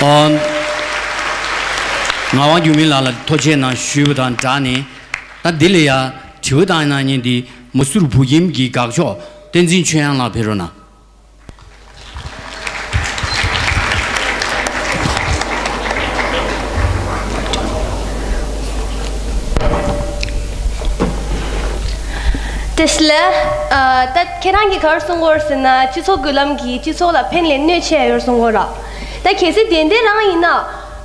ང་ཝང་ཅུན་ཕིན་ལགས་ལ་ཐོ་ཆེ་ནང་ཞུས་པ་དང་སྦྲགས་ནས། ད་འདི་ལ་ཡང་དྲི་བ་བཏང་ན་ཉིན་འདི་མ་སུར་བུ་ཁྱིམ་གྱི་དགག་ཕྱོགས་བསྟན་འཛིན་ཆོས་དབྱངས་ལགས་ཕེ་རོ་ན། དེ་སླད་ད། ཁྱེད་རང་གིས་གར་སོང་གོ་ཟེར་ན་སྤྱི་ཚོགས་འགུལ་ལམ་གྱིས་སྤྱི་ཚོགས་ལ་ཕན་ལས་གནོད་ཆེ་ཡོར་སོང་གོ་ར། ད་གལ་སྲིད་དེ་འདྲའི་རང་ཡིན་ན།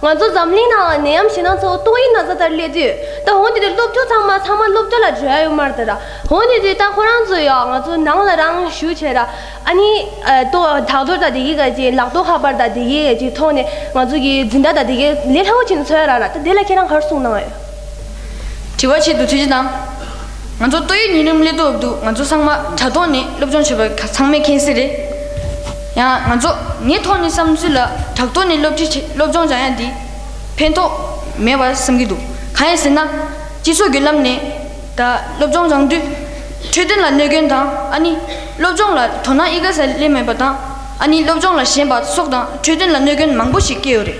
ང་ཚོ་འཛམ་གླིང་ནང་ནད་ཡམས་ཞེ་སྣང་ཚོ་ཏོག་དབྱིབས་ན་བཟའ་ལྟར་སླེབས་དུས་ད་འོང་དེ་དུས་སློབ་ཕྲུག་ཚང་མ་ཚང་མ་སློབ་གྲྭ་ལ་བྲོས་ཡོད་མར་ད་ར་འོང་དེ་དུས་ད་ཁོ་རང་ཚོ་ཡང་ང་ཚོ་ནང་ལ་རང་ཞུ་བྱས་ར་ཨ་ནི། ཏོ་དག་འདོར་དང་དེ་གས་ག་ཅིག་ལག་ཏོག་ཁ་པར་དང་དེ་གས་ག་ཅིག་ཐོག་ནས་ང་ཚོ་གི་འཛིན་གྲྭ་དང་དེ་གས་ལས་སླ་བོ་ཅིག་ནས་འཚོལ་ཡ་ར་ད་དེ་ལ་ཁྱེད་རང་གར་སོང་གནང་ཡོད། དྲི་བ་ཆེད་དུ་ཐུགས་རྗེ་གནང། ང་ཚོ་ཏོག་དབྱིབས་ཉིས་སྣུམ་གླེ་ལྟོ་འདུག་ང་ཚོ་ཚང་མ་དྲ་ཐོག་ནས་སློབ་སྦྱོང་བྱེད་པ་ཚང་མས་མཁྱེན་གསལ་རེད། ཡང་ང་ཚོ་ངའི་ཐོག་ནས་བསམ་ཚུལ་ལ་དྲག་ཐོག་ནས་སློབ་ཁྲིད་བྱེད་སློབ་སྦྱོང་བྱ་ཡ་འདི་ཕན་ཐོགས་མེད་པར་བསམ་གྱི་འདུག་གང་ཡིན་ཟེར་ན། སྤྱི་ཚོགས་བརྒྱུད་ལམ་ནས་ད་སློབ་སྦྱོང་བྱང་དུས་འཕྲོད་བསྟེན་ལ་གནོད་སྐྱོན་དང་ཨ་ནི་སློབ་སྦྱོང་ལ་དོ་སྣང་ཨི་ག་ས་ལེ་མེད་པ་དང་ཨ་ནི་སློབ་སྦྱོང་ལ་ཞེན་པ་སོགས་དང་འཕྲོད་བསྟེན་ལ་གནོད་སྐྱོན་མང་པོ་ཞིག་སྐྱེ་ཡོད་རེད།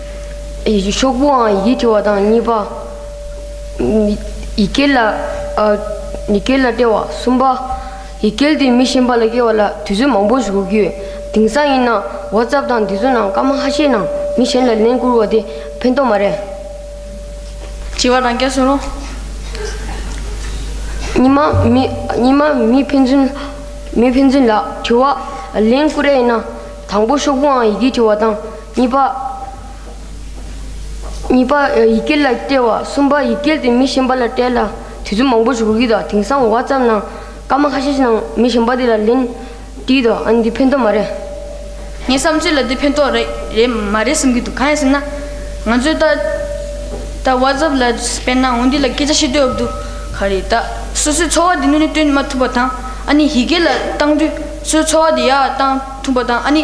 ཤོག་བུའང་ཡིད་ཀྱི་བ་དང་གཉིས་པ། ཡི་གེ་ལ་སྤྲེལ་བ་གསུམ་པ། ཡི་གེ་འདི་མི་གཞན་པ་ལ་སྐྱེལ་བ་ལ་དུས་ཚོད་མང་པོ་ཞིག་འགོར་གྱི་ཡོད། དེང་སང་ཡིན་ན་ཝོ་ཙབ་དང་འདི་ཚོ་ནང་སྐར་མ་ཧ་ཤས་ནང་མི་གཞན་ལ་ལན་བསྐུར་བ་དེ་ཕན་ཐོགས་མ་རེད། བྱིས་པ་དང་སྐྱ་སུ་རུང། ཉི་མ་མི་ཕན་ཚུན་ལ་དྲི་བ་ལན་བསྐུར་ཨེ་ཡིན་ན་དང་པོ་ཤོག་བུའང་ཡི་གེ་འབྲི་བ་དང། གཉིས་པ། གཉིས་པ། ཡི་གེ་ལ་བལྟས་བ། གསུམ་པ། ཡི་གེ་དེ་མི་གཞན་པ་ལ་སྤྲད་ལ་དུས་ཚོད་མང་པོ་ཞུགས་ཀྱི་དང་དེང་སང་འོ་བ་ཙམ་ནང་སྐར་མ་ཁ་ཤས་ནང་མི་གཞན་པ་དེ་ལ་ལན་བྲིས་དང་ཨ་ནི་འདི་ཕན་ཐོགས་མ་རེད། ངའི་བསམ་ཚུལ་ལ་འདི་ཕན་ཐོགས་རེད་མ་རེད་བསམ་གྱི་འདུག་གང་ཡིན་ཟེར་ན། ང་ཚོས་ད་ད་བ་ཙབ་ལ་སྤེལ་ན་འོ་འདི་ལ་སྐད་ཆ་ཤེས་འདོད་ཨབ་འདུག་ག་རེད་ད་སོ་སོའི་འཚོ་བ་དེ་སྣོད་ནས་སྟོན་མ་ཐུབ་པ་དང་ཨ་ནི་ཡི་གེ་ལ་བཏང་དུས་སོའི་འཚོ་བ་དེ་ཡག་བཏང་ཐུབ་པ་དང་ཨ་ནི།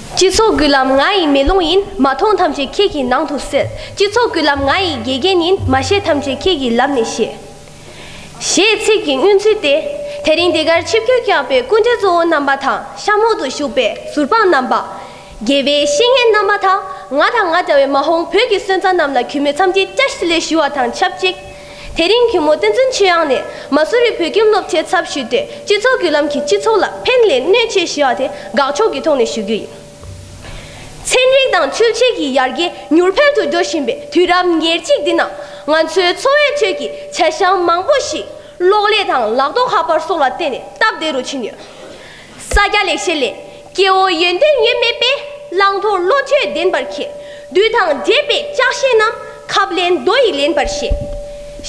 སྤྱི་ཚོགས་ཀུན་ལམ་ང་ཡི་མེ་ལོང་ཡིན་མ་མཐོང་ཐམས་ཅད་ཁྱེད་ཀྱི་ནང་དུ་སེལ། སྤྱི་ཚོགས་ཀུན་ལམ་ང་ཡི་དགེ་རྒན་ཡིན་མ་ཤེས་ཐམས་ཅད་ཁྱེད་ཀྱི་ལམ་ནས་ཤེས། ཞེས་ཚིག་གི་སྙུན་ཚུལ་ཏེ། དེ་རིང་འདི་གར་ཆིབས་སྒྱུར་བསྐྱངས་པའི་སྐུ་འདྲ་གཙོ་བོ་རྣམ་པ་དང་གཤམ་འོག་ཏུ་བཞུགས་པའི་ཟུར་དཔང་རྣམ་པ། དགེ་བའི་བཤེས་གཉེན་རྣམ་པ་དང་ང་དང་ང་འདྲ་བའི་མ་ཧོང་བོད་ཀྱི་སོན་རྩ་རྣམས་ལ་གུས་མོས་འཚམས་འདྲི་བཀྲ་ཤིས་ལེ་ཞུ་བ་དང་ཆབས་ཅིག། དེ་རིང་གི་མོ་བསྟན་འཛིན་ཆོས་དབྱངས་ནས་མ་སུ་རི་བོད་ཁྱིམ་སློབ་ཆེན་ཚབ་ཞུས་ཏེ་སྤྱི་ཚོགས་བརྒྱུད་ལམ་གྱིས་སྤྱི་ཚོགས་ལ་ཕན་ལས་གནོད་ཆེ་ཞེས་པ་དེ་དགག་ཕྱོགས་ཀྱི་ཐོག་ནས་ཞུ་རྒྱུ་ཡིན། ཚན་རིག་དང་ཆོས་བྱེད་ཀྱི་ཡར་རྒྱས་མྱུར་འཕེལ་དུ་འགྲོ་བཞིན་པའི་དུས་རབས་ཉེར་གཅིག་འདི་ན་ང་ཚོའི་འཚོ་བའི་ཁྲོད་ཀྱི་བྱ་བཞག་མང་པོ་ཞིག་གློག་ཀླད་དང་ལག་ཐོགས་ཧྭ་པར་སོགས་ལ་བརྟེན་ནས་སྟབས་བདེ་རུ་ཕྱིན་ཡོད། ས་སྐྱ་ལེགས་བཤད་ལས། སྐྱེ་བོ་ཡོན་ཏན་ངེས་མེད་པས། བླང་དོར་བློ་ཆོས་བདེན་པར་ཁེགས། བདུད་དང་བགྲེས་པས་ལྕགས་ཞེན་ན། ཁབ་ལེན་རྡོ་ཡིས་ལེན་པར་བྱེད།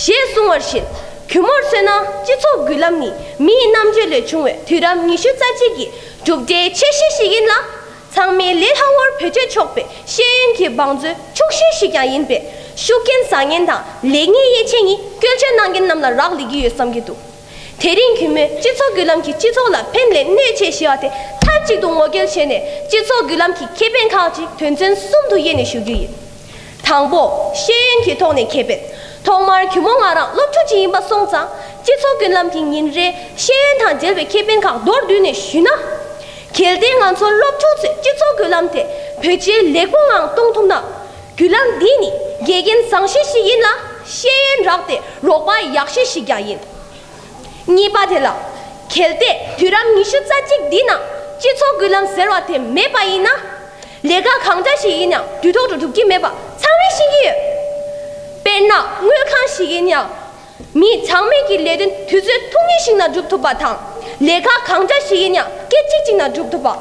ཞེས་གསུངས་བར་བཞིན། གུས་མོར་མཚོན་ན་སྤྱི་ཚོགས་འགུལ་ལམ་ནི་མིའི་རྣམ་དཔྱོད་ལས་བྱུང་བའི་དུས་རབས་ཉི་ཤུ་རྩ་གཅིག་གི་གྲུབ་འབྲས་ཆེ་ཤོས་ཤིག་ཡིན་ལ། ཚང་མའི་ལས་སླ་བོར་བེད་སྤྱོད་ཆོག་པའི་ཤེས་ཡོན་གྱི་བང་མཛོད་ཕྱུག་ཤོས་ཤིག་ཀྱང་ཡིན་པས། ཤུགས་རྐྱེན་བཟང་ངན་དང་ལེགས་ཉེས་དབྱེ་འབྱེད་གཉིས་སྐྱོན་བརྗོད་གནང་མཁན་རྣམས་ལ་རག་ལས་ཀྱི་ཡོད་བསམ་གྱི་འདུག། དེ་རིང་གི་མོས་སྤྱི་ཚོགས་བརྒྱུད་ལམ་གྱིས་སྤྱི་ཚོགས་ལ་ཕན་ལས་གནོད་ཆེ་ཞེས་བ་དེ་མཐའ་གཅིག་ཏུ་ངོ་སྐལ་བྱས་ནས་སྤྱི་ཚོགས་བརྒྱུད་ལམ་གྱི་ཁེ་ཕན་ཁག་ཅིག་དོན་ཚན་གསུམ་དུ་དབྱེ་ནས་ཞུ་རྒྱུ་ཡིན། དང་པོ། ཤེས་ཡོན་གྱི་ཐོག་ནས་ཁེ་ཕན། ཐོག་མར་གུས་མོ་ང་རང་སློབ་ཕྲུག་ཅིག་ཡིན་པ་སོང་ཙང་སྤྱི་ཚོགས་བརྒྱུད་ལམ་གྱི་ཉིན་རེའི་ཤེས་ཡོན་དང་འབྲེལ་བའི་ཁེ་ཕན་ཁག་མདོར་བསྡུས་ནས་ཞུས་ན། གལ་ཏེ་ང་ཚོ་སློབ་ཕྲུག་ཚོས་སྤྱི་ཚོགས་བརྒྱུད་ལམ་དེ་བོད་སྤྱིར་ལེགས་པོ་ངང་གཏོང་ཐུབ་ན། བརྒྱུད་ལམ་འདི་ནི་དགེ་རྒན་བཟང་བཤེས་ཤིག་ཡིན་ལ་ཤེས་ཡོན་རག་སྟེ་རོགས་པ་ཡག་བཤེས་ཤིག་ཀྱང་ཡིན། གཉིས་པ་དེ་ལ་གལ་ཏེ་དུས་རབས་ཉི་ཤུ་རྩ་གཅིག་འདི་ན་སྤྱི་ཚོགས་བརྒྱུད་ལམ་ཟེར་བ་དེ་མེད་པ་ཡིན་ན། ལས་ཀ་གང་འདྲ་ཞིག་ཡིན་ཡང་དུས་ཐོག་ཏུ་སྒྲུབ་ཀྱི་མེད་པ་ཚང་མས་ཤེས་ཀྱི་ཡོད། དཔེར་ན་དངུལ་ཁང་ཞིག་ཡིན་ཡང། མིས་ཚང་མས་ཀྱི་ལས་དོན་དུས་ཚོད་ཐུང་ངེ་ཞིག་ན་སྒྲུབ་ཐུབ་པ་དང། ལས་ཀ་གང་འདྲ་ཞིག་ཡིན་ཡང་སྐད་ཅིག་གཅིག་ན་སྒྲུབ་ཐུབ་པ།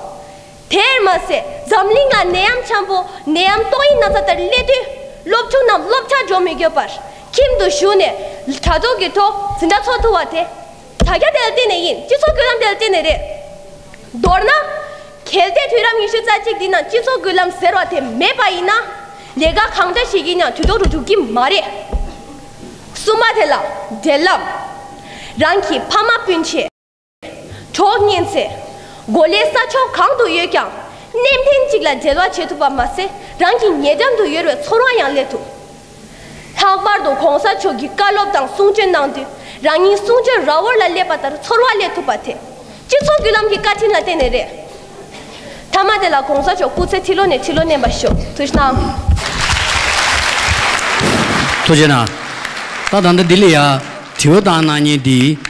དེར་མ་ཟད་འཛམ་གླིང་ལ་ནད་ཡམས་འཁྱམས་པོ་ནད་ཡམས་ཏོག་དབྱིབས་ན་ཚ་དེར་སླེབས་དུས་སློབ་ཕྲུག་རྣམས་སློབ་གྲྭར་འགྲོ་མི་དགོས་པར་ཁྱིམ་དུ་བཞུགས་ནས་དྲ་ཐོག་གི་ཐོག་འཛིན་གྲྭ་འཚོགས་ཐུབ་པ་དེ་དྲ་རྒྱ་དེ་ལ་བརྟེན་ནས་ཡིན་སྤྱི་ཚོགས་སྐུད་ལམ་དེ་ལ་བརྟེན་ནས་རེད། མདོར་ན། གལ་ཏེ་དུས་རབས་ཉི་ཤུ་རྩ་གཅིག་འདི་ན་སྤྱི་ཚོགས་སྐུད་ལམ་ཟེར་བ་དེ་མེད་པ་ཡིན་ན། ལས་ཀ་གང་འདྲ་བྱེད་ཀྱིན་ཡང་དུས་ཐོག་ཏུ་འགྲུབ་ཀྱི་མ་རེད། གསུམ་པ་དེ་ལ་འབྲེལ་ལམ། རང་གི་ཕ་མ་སྤུན་མཆེད། གྲོགས་རྙེད་ཚེ། གོ་ལའི་ས་ཕྱོགས་གང་དུ་ཡོད་ཀྱང་གནས་མཁན་གཅིག་ལ་འབྲེལ་བ་བྱེད་ཐུབ་པ་མ་ཟད་རང་གི་ཉེ་འགྲམ་དུ་ཡོད་པའི་ཚོར་བ་ཡང་སླེབས་ཐུབ། ལྷག་པར་དུ་གོང་ས་མཆོག་གིས་བཀའ་སློབ་དང་གསུང་ཆོས་གནང་དུས་རང་ཉིད་གསུང་ཆོས་ར་བོར་ལ་སླེབས་པ་ལྟར་ཚོར་བ་སླེབས་ཐུབ་པ་དེ་སྤྱི་ཚོགས་བརྒྱུད་ལམ་གྱི་བཀའ་དྲིན་ལ་བརྟེན་ནས་རེད། མཐའ་མ་དེ་ལ་གོང་ས་མཆོག་སྐུ་ཚེ་ཐིལ་ལོ་ནས་ཐིལ་ལོ་བརྣན་པར་ཤོག་ཐུགས་རྗེ་གནང། ཐུགས་རྗེ་གནང། ད་ད་ལྟ་འདི་ལ་ཡང་དྲི་བ་དང་གནང་སྙན་འདི།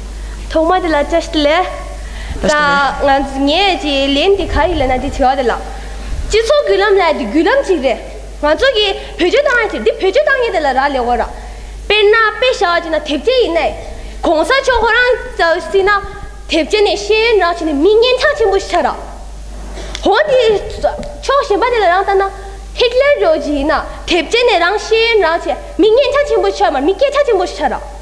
ཐོག་མ་དེ་ལ་ཅི་ཞིག་ལས། ད་ངས་ཀྱི་ལན་དེ་ག་རེ་ལེན་ན་དེ་ཆེ་བ་དེ་ལགས། སྤྱི་ཚོགས་བརྒྱུད་ལམ་ལ་དེ་བརྒྱུད་ལམ་ཅིག་རེད། ང་ཚོ་གི་བེད་སྤྱོད་བཏང་ཡ་ཅིག་དེ་བེད་སྤྱོད་བཏང་ཡས་དེ་ལ་རག་ལས་གོ་ར། དཔེར་ན་དཔེ་བྱ་བ་ཅིག་ན་དེབ་སྐྱེལ་ཡིན་ནའི། གོང་ས་མཆོག་ཁོ་རང་ཙལ་སྲིད་ན། དེབ་སྐྱེལ་ནས་ཤེས་ཡོན་རག་བྱས་ནས་མི་ངན་ཐག་ཆེན་པོ་ཞིག་ཆགས་རག། ཧོ་དེ་ཕྱོགས་གཞན་པ་དེ་ལ་རང་ལྟ་ན། ཧིག་ལེར་རོལ་གྱི་ཡིན་ན་དེབ་སྐྱེལ་ནས་རང་ཤེས་ཡོན་རག་བྱས་མི་ངན་ཐག་ཆེན་པོ་ཞིག་ཆགས་མ་མི་སྐད་ཐག་ཆེན་པོ་ཞིག་ཆགས་རག།